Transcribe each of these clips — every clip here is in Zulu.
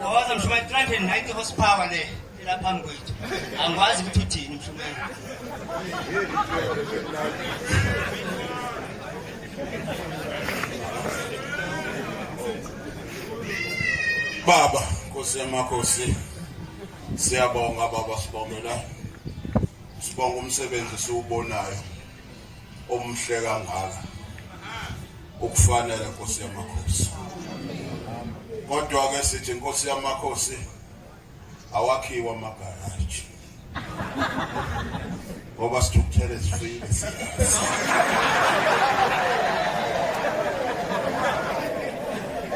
Wawaza mshumayeli 390 horsepower le ila phambi kwethu. Angikwazi ukuthi uthini mshumayeli. Baba Nkosi yamakhosi siyabonga baba sibongela sibonga umsebenzi siwubonayo omhle kangaka ukufanele Nkosi yamakhosi kodwa ke sithi Nkosi yamakhosi awakhiwa amagaraji ngoba sithukuthele sifile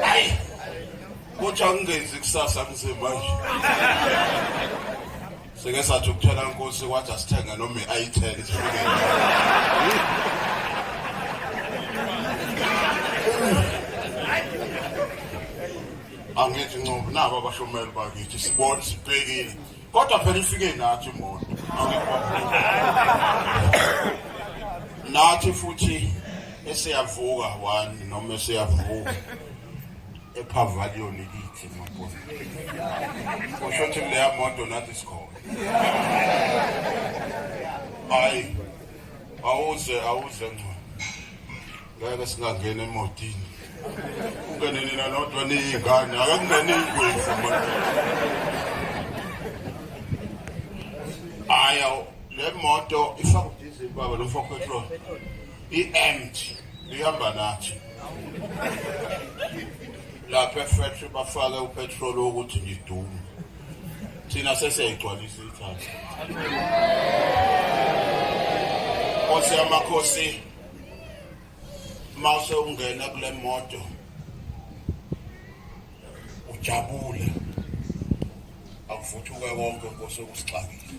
ayi kodwa ngingenzi kusasa mzimanje Sike sathi ukuthola inkosi kwathi asithenga noma i-itel isifike. Angithi ncobo nabo abashomeli bakithi sibona sibhekile. Kodwa phela ifike nathi imoto. Nathi futhi esiyavuka one noma esiyavuka ePavilion ithi mabona usho ukuthi leya moto nathi sikhona hayi awuze awuze ngco ngeke singangena emotini ungene nina nodwa niyingane ake kungene ingwevu manje hayi le moto ifaka udizili baba lo mfo petrol I-ant lihamba nathi lapha efactory bafake upetrol wokuthi ngidume thina sesiyayigcwalisa ithatha nkosi yamakhosi mase ungena kule moto ujabule akuvuthuke konke nkosi okusixakile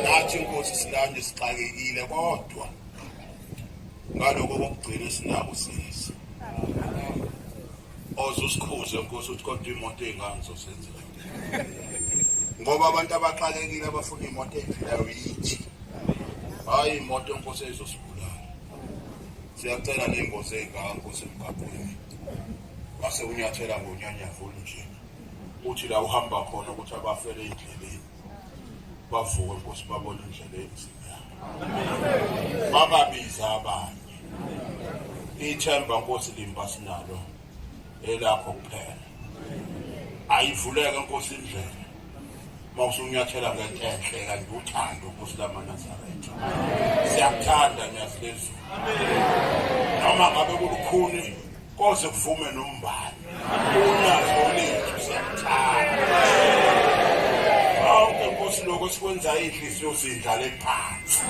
nathi nkosi silande sixakekile kodwa ngaloko kokugcina esinako sisi oze usikhuze nkosi ukuthi kodwa imoto ey'ngane zosenzela ngoba abantu abaxakekile abafuna imoto eyiphilayo yithi hhayi imoto nkosi eyizosibulala Siyacela ney'ngozi ey'kakho semgaqweni mase unyathela ngonyanyavu olunjena uthi la uhamba khona ukuthi abafele endleleni bavuke nkosi babone indlela enzima bababiza abanye ithemba nkosi limba sinalo elakho kuphela ayivuleke nkosi indlela uma usunyathela ngento enhle kanti uthando ukuthi lamanazaretha siyakuthanda nyazi lezulu noma ngabe kulukhuni koze kuvume nombani unazo lethu siyakuthanda awuke nkosi lokho sikwenza inhliziyo zindlale phansi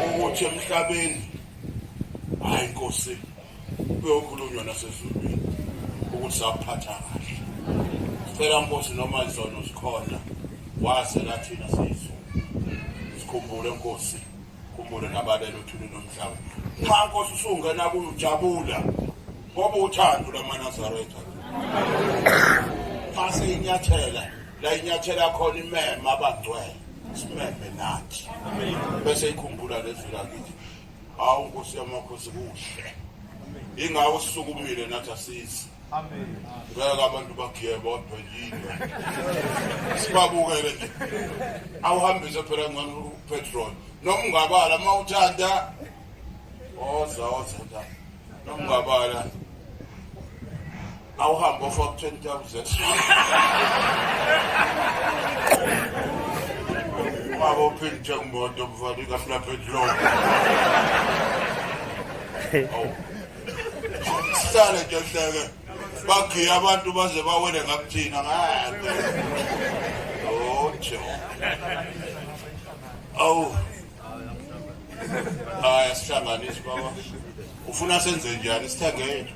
ukuthi emhlabeni hayi nkosi kuyokhulunywa nasezulwini ukuthi saphatha kahle sicela nkosi noma izono zikhona wazela thina siyizo sikhumbule nkosi khumbule nabalelo thuni nomhlaba nxa nkosi usungena kuyo ujabula ngoba uthando lwamanazaretha phase inyathela la inyathela khona imema abangcwele simeme nathi bese ikhumbula lezwi lakithi Hawu Nkosi yamakhosi kuhle. Ingawo sukumile nathi asizi. Amen. Ngeke abantu bagiye bodwa yini. Sibabukele nje. Awuhambise phela ngcono upetrol. Noma ungabala uma uthanda. Oza oza ta. Noma ungabala. awuhambe ofaka 20000 baba uphinde uthenga umoto mfana ikafuna petrol awu sihlale nje hleke bagiye abantu baze bawele ngakuthina ngeke ojo awu hayi asihlanganisi baba ufuna senze njani sithengele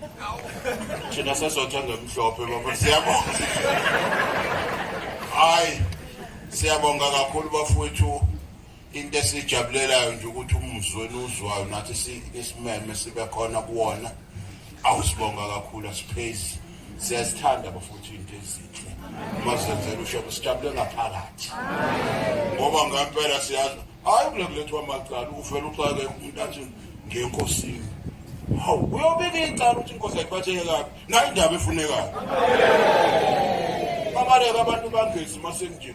thina sesothenga emhlophe baba siyabonga hayi siyabonga kakhulu bafowethu into esijabulelayo nje ukuthi umuzwi wenu uzwayo nathi isimeme sibe khona kuwona awusibonga kakhulu asiphezi Siyazithanda bafowethu into ezinhle. Masenzele ushebo sijabule ngaphakathi. Ngoba ngempela siyazi hayi kule kulethwa amacala uvela uxake umuntu athi ngenkosini. Hawu uyobika icala ukuthi inkosi ayiphatheke kabi. Nayi indaba efunekayo. Babaleka abantu bangezi masenje.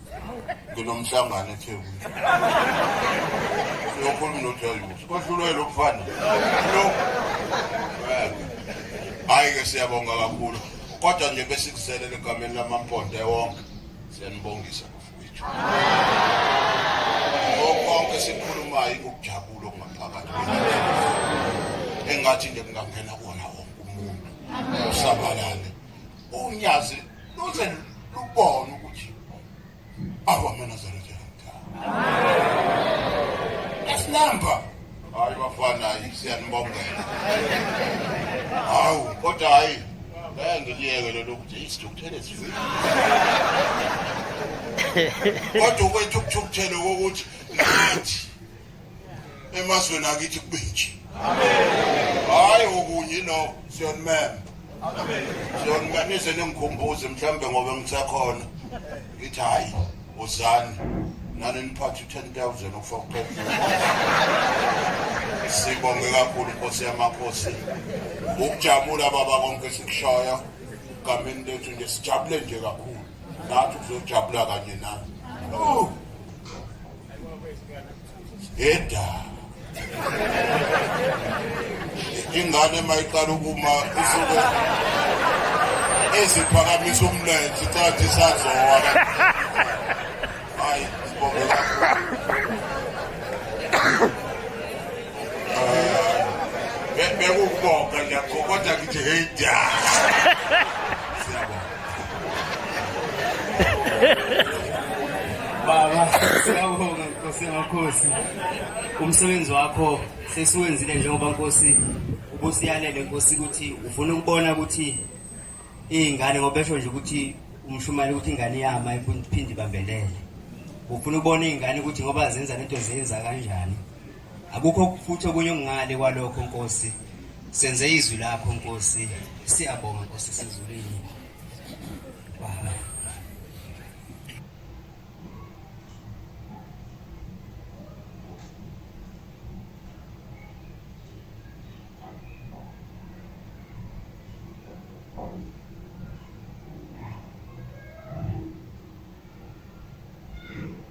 nginomhlangano ethekwini siyokhuluma nojalusi kohlulwe lo mfana lo hhayi-ke siyabonga kakhulu kodwa nje besikuzelele egameni lamamponde wonke siyanibongisa bafowethu konke sikhulumayo ikukujabula okungaphakathi engathi nje kungangena kona wonke umuntu usabalale unyazi luze lubone ukuthi akwamanazaretha esinamba hayi bafana siyanibongela hawu kodwa hayi ngeke ngiliyeke lelo ukuthi isithukuthele sivile kodwa ukwethu ukuthukuthele kokuthi ngathi emazweni akithi kube nje hayi okunye no siyonimema siyonimema nize ningikhumbuze mhlawumbe ngoba ngisakhona ngithi hhayi uzani nani niphathe u-ten thousand ukufa kuphela sibonge kakhulu inkosi yamakhosi ukujabula baba konke sikushoyo egameni lethu nje sijabule nje kakhulu nathi kuzojabula kanye nami Yeda. Ingane mayiqala ukuma isuke eziphakamisa umlenze icathi isazowa. Hayi, sibonge kakhulu. Eh, bekukubonga nje kodwa ngithi hey ja. Siyabonga. Baba, siyabonga Nkosi yamakhosi. Umsebenzi wakho sesiwenzile njengoba Nkosi ubusiyalele Nkosi ukuthi ufuna ukubona ukuthi iy'ngane ngoba esho nje ukuthi umshumayeli ukuthi ingane iyama iphinde ibambelele. Ufuna ukubona iy'ngane ukuthi ngoba zenza lento zenza kanjani. Akukho futhi okunye okungale kwalokho Nkosi. Senze izwi lakho Nkosi. Siyabonga Nkosi sezulwini. Baba.